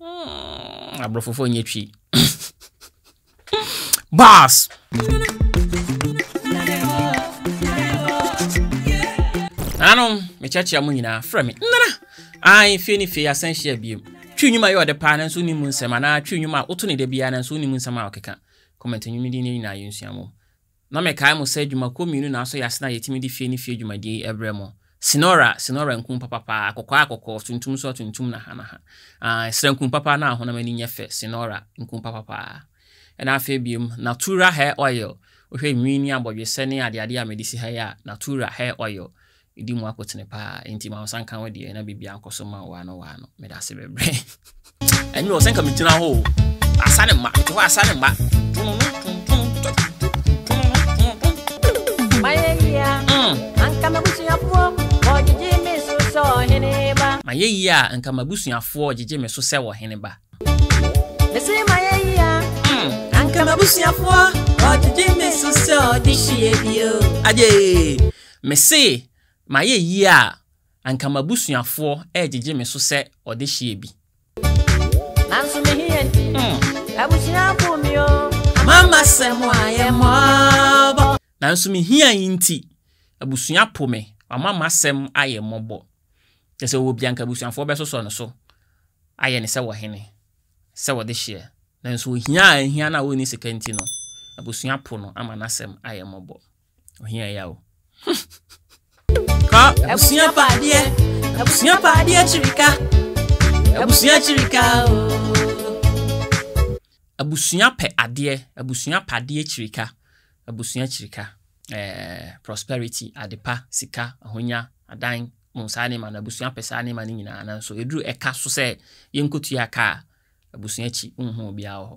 Mm, aborɔfofoɔ nyɛ twi. Bars! Nanom, mekyerɛkyerɛ mo nyinaa frɛ me. Nnara! Ae, fie ne fie asɛn hyia biom. Twi nnwuma yɛ ɔde paa nanso wonim mu nsɛm anaa twi nnwuma a woto ne da biara nanso wonim mu nsɛm a ɔkeka. Comment nnwumidi no nyinaa yɛnsua mu. Na mekae mo sɛ dwumakuo mmienu na asɔ yɛn ase na yɛtumi de fie ne fie dwumadie yi brɛ mo, Sinora, Sinora nkuu papapaa, akɔkɔɔ akɔkɔɔ, tuntum nso atuntum na hanaha. Ae, srɛ nkuu papa na ahonam ani nyɛ fɛ, Sinora, nkuu papapaa. Ɛna afei biom, Natura Hair Oil, wohwɛ nwi ne abɔdwesɛ ne adeadeɛ a mede si ha yi a, Natura Hair Oil, Medi mu akotene paa enti ma wo nsa nka wo deɛ na biribiara nkɔ so ma wo ano wɔ ano. Meda ase bebree. Ɛnyɛ ɔsɛ nka megyina hɔ o. Asa ne mma, mete hɔ asa ne mma. Mayɛyia, anka m'abusuafoɔ wɔgyegye me so sɛ ɔhene ba. Mayɛyia, anka m'abusuafoɔ wɔgyegye me so sɛ ɔhene ba. Mese mayɛyia, anka m'abusuafoɔ wɔgyegye me so sɛ ɔde hyeɛ bio. Agyee! Mese mayɛ yie a, anka m'abusuafoɔ regyegye me so sɛ ɔdehyeɛ bi. Nanso me hia nti, abusua po me o. Mama sɛ mo ayɛ mmɔbɔ. Nanso me hia yi nti, abusua po me. Wama m'asɛm ayɛ mmɔbɔ. Kyerɛ sɛ ɔwɔ bi a, anka abusuafoɔ bɛsosɔ no so ayɛ no sɛ ɔhene, sɛ ɔdehyeɛ. Nanso ohia a ahia no a ɔnni sika nti no, abusua po no ama n'asɛm ayɛ mmɔbɔ. ohia ya o kɔ abusua pa adeɛ abusua pa adeɛ kyirika abusua kyirika o abusua pɛ adeɛ abusua pa adeɛ kyirika abusua kyirika ɛɛ eh, prosperity adepa sika ahonya adan mu saa ne ma no abusua pɛ saa ne ma no nyinaa nanso eduru ɛka so sɛ yɛnkɔtua kaa abusua akyi nhuu obiara wɔ hɔ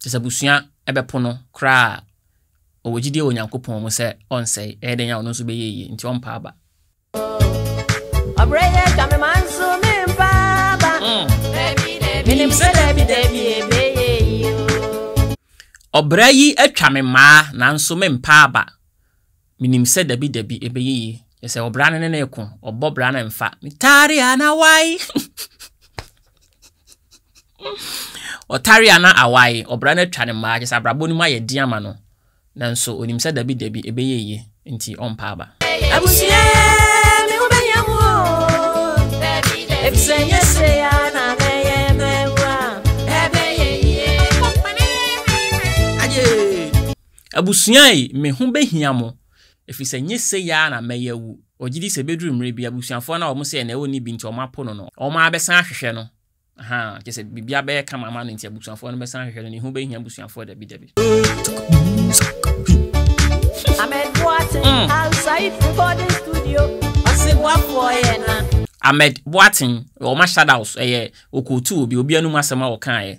Kyerɛ sɛ abusua bɛpo no koraa a, ɔwɔ gyidie wɔ Onyankopɔn mu sɛ ɔrensɛe. Ɛyɛ dɛn a ɔno nso bɛyɛ yie? Enti ɔmpa aba. Ɔbrɛ yɛ twa me ma nso mempa aba. Menim sɛ dabi dabi ɛbɛyɛ yie. Ɔbrɛ yi atwa me maa nanso mempa aba. Minim sɛ dabi dabi ɛbɛyɛ yie. Kyerɛ sɛ ɔbra no ne no reko, ɔbɔ bra no mfa. Metare a na wae. Ɔtare a na awae, ɔbra no atwa ne mmaa. Kyerɛ sɛ abrabɔ no mu ayɛ den ama no. Nanso onim sɛ dabi dabi ɛbɛyɛ yie, nti ɔmpa aba. Abusua, me ho bɛhia mo o, efisɛ nyɛ sɛ ya na mɛyɛ mɛwu a. Ɛbɛyɛ yie. Aye. Abusua yi, me ho bɛhia mo, ɛfiri sɛ nyɛ sei ara na mɛyɛ awu. Ɔgye di sɛ ɛbɛduru mmerɛ bi, abusuafoɔ a na wɔn sɛ na ɔnni bi nti wɔapo no no, wɔabɛsan ahwehwɛ no. Ahaa, kyerɛ sɛ biribi abɛyɛ kama ama no nti abusuafoɔ no bɛsan ahwehwɛ no. Ne ho bɛhia abusuafoɔ dabi dabi. Ahmed Boateng, wɔn ahyɛdaws, ɛyɛ ɔkɔɔtuu obi, obi anom asɛm a ɔkaeɛ.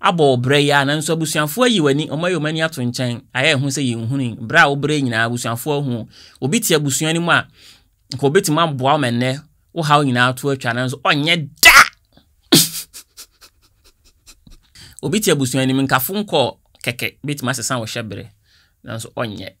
abɔ wo brɛ yi ara nanso abusuafoɔ ayi w'ani, wɔayi wɔn ani ato nkyɛn, ayɛ ɛho sɛ yɛnhunui. Brɛ a wobrɛɛ nyinaa abusuafoɔ ahu wo. Obi te abusua no mu a, nka obetumi aboa wo ma nnɛ wo haw nyinaa to atwa nanso ɔnyɛ da! Obi te abusua no mu, nkafo nkɔɔ kɛkɛ, ebetumi asesa wo hyɛbere nanso ɔnyɛ.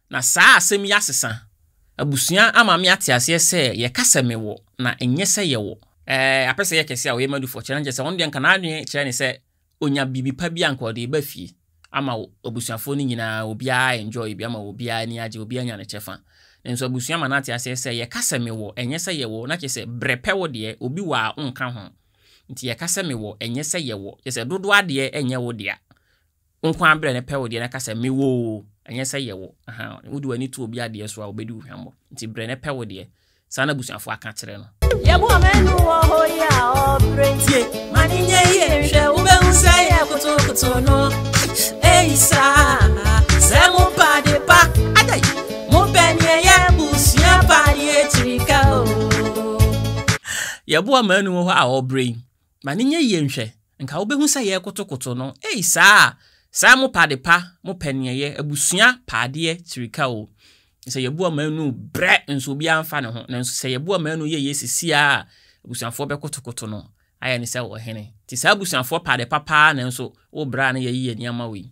Na saa asɛm yi asesa abusua ama me ate aseɛ sɛ yɛka sɛ mewɔ na ɛnyɛ sɛ yɛwɔ. Ɛɛ, apɛ sɛ ɛyɛ kɛse a ɔyɛ Madufoɔ kyerɛ no kyerɛ sɛ ɔno deɛ nka n'adwene kyerɛ ne sɛ ɔnya biribi pa bi a nka ɔde reba fie ama abusuafoɔ no nyinaa, obiara enjoy bi ama obiara ani agye, obiara anya ne kyɛfa. Nanso abusua ma no ate aseɛ sɛ yɛka sɛ mewɔ ɛnyɛ sɛ yɛwɔ na kyerɛ sɛ brɛ pɛ wo deɛ, obi wɔ a wonka ho. Nti yɛka sɛ mewɔ ɛnyɛ sɛ yɛwɔ, kyerɛ sɛ dodoɔ adeɛ ɛnyɛ wo dea, Wo nko ara brɛ no pɛ wo deɛ na ka sɛ mewɔ oo ɛnyɛ sɛ yɛwɔ ahaa wode w'ani to obi adeɛ so a ɔbɛdi wo hwammɔ nti brɛ no pɛ wo deɛ saa na abusuafoɔ aka kyerɛ no. Yɛboa ma ɛno wɔ hɔ yi a ɔbrɛ ntie ma ne nyɛ yie nhwɛ wobɛhu sɛ yɛ kotokoto no ei saa sɛ mo pa de pa adai mopɛ neɛ yɛ busua pa deɛ akyirika o. Yɛboa ma ɛno wɔ hɔ a ɔbrɛ yi Ma no nyɛ yie nhwɛ, nka wobɛhu sɛ yɛrekotokoto no, ei saa a, saa mo pa ade pa, mo pɛ neɛ yɛ, abusua pa adeɛ kyirika o, sɛ yɛbu ɔmanuu brɛ nso obiara mfa ne ho, nanso sɛ yɛbu ɔmanuu yɛ yie sesiaa a, abusuafoɔ bɛkotokoto no ayɛ no sɛ ɔhene, nti saa abusuafoɔ pa ade pa paa nanso wo bra na yɛyi yɛ nneɛma wei.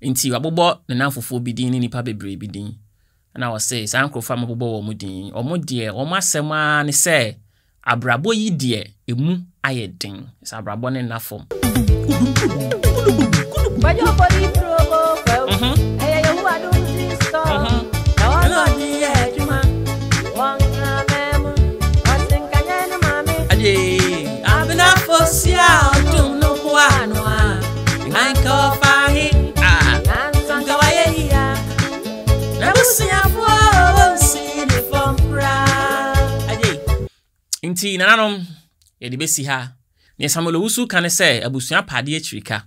Enti wabobɔ ne nnamfofoɔ bi din ne nnipa bebree bi din. Ɛna wɔse, saa nkurɔfoɔ a mabobɔ wɔn mo din yi, wɔn deɛ wɔn asɛm ara ne sɛ, abrabɔ yi deɛ ɛmu ayɛ den. Sɛ abrabɔ no nna fam. Abenafo si a ɔdom no ho ano a. Anka ɔfa he Anka wayɛ yia N'abusuafoɔ wɔnsi ne fam koraa Nti nananom yɛde bɛsi ha Nea Samuel Owusu ka ne sɛ abusua pa adeɛ akyiri ka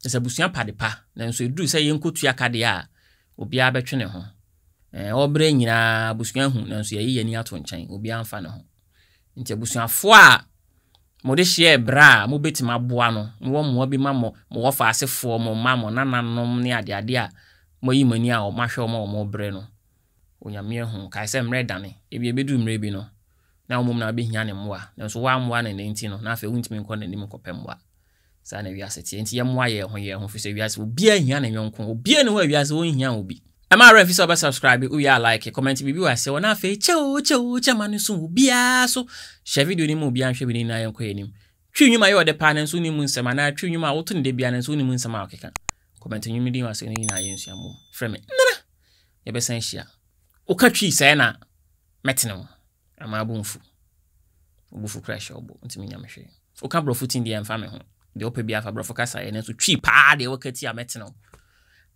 Kyerɛ sɛ abusua pa de pa Nanso ɛduru sɛ yɛnkɔtua ka deɛ a obiara bɛtwe ne ho Ɛɛ ɔbrɛ nyinaa abusua hu Nanso yɛayi yɛn ani ato nkyɛn Obiara mfa ne ho Nti abusuafoɔ a mode hyɛɛ berɛ a mobɛtumi aboa no, mowɔ mmoa bi ma mo mo wɔfa asefoɔ, mo mma, mo nananom ne adeade a moayi mo ani a wɔahwɛ wɔn a wɔrebrɛ no, Onyame ahu. Kae sɛ mmerɛ dane. Ebia ɛbɛduru mmerɛ bi no, na wo mmom na wobɛhia ne mmoa, nanso woammoa no ɛnnɛ nti no, na afei wontumi nkɔ n'anim nkɔpɛ mmoa. Saa na wiase teɛ. Enti yɛmmoa yɛn ho yɛn ho, ɛfiri sɛ wiase, obiara hia ne yɔnko. Obiara nni hɔ a wiase ɔnhia obi. Mma wo werɛ mfi sɛ wobɛsubscribe, wowie a like, kɔmɛnte biribi wɔ aseɛ hɔ, na afei kyɛ oo, kyɛ oo, kyɛ mma no nso wo biara so. Hyɛ video no ma obiara nhwɛ bi na yɛn nyinaa yɛnkɔ yɛn anim. Twi nnwom a ɛyɛ wo dɛ paa nanso wonnim mu nsɛm anaa twi nnwom a woto no da biara nanso wonnim nsɛm a wɔkeka. Kɔmɛnte nnwom no din wɔ aseɛ hɔ na yɛn nyinaa yɛnsua mmom. Frɛ me nnɛra! Yɛbɛsan ahyia. Woka Twi sɛɛ na mɛtene wo. Ama abo mfu. Wo bo fu kra hyɛ wo bo, ntumi nya me hwee. Wo ka brɔfo tin deɛ mfa me ho. Deɛ wo pɛ biara fa brɔfo kasa yɛ nanso twi paa deɛ wo ka tia mɛ tene wo.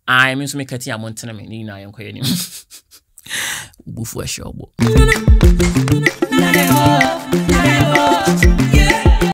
Ae me nso me ka tia mo ntene me ne nyinaa yɛ nkɔ yɛ nim. Wo bo fu ahyɛ wo bo.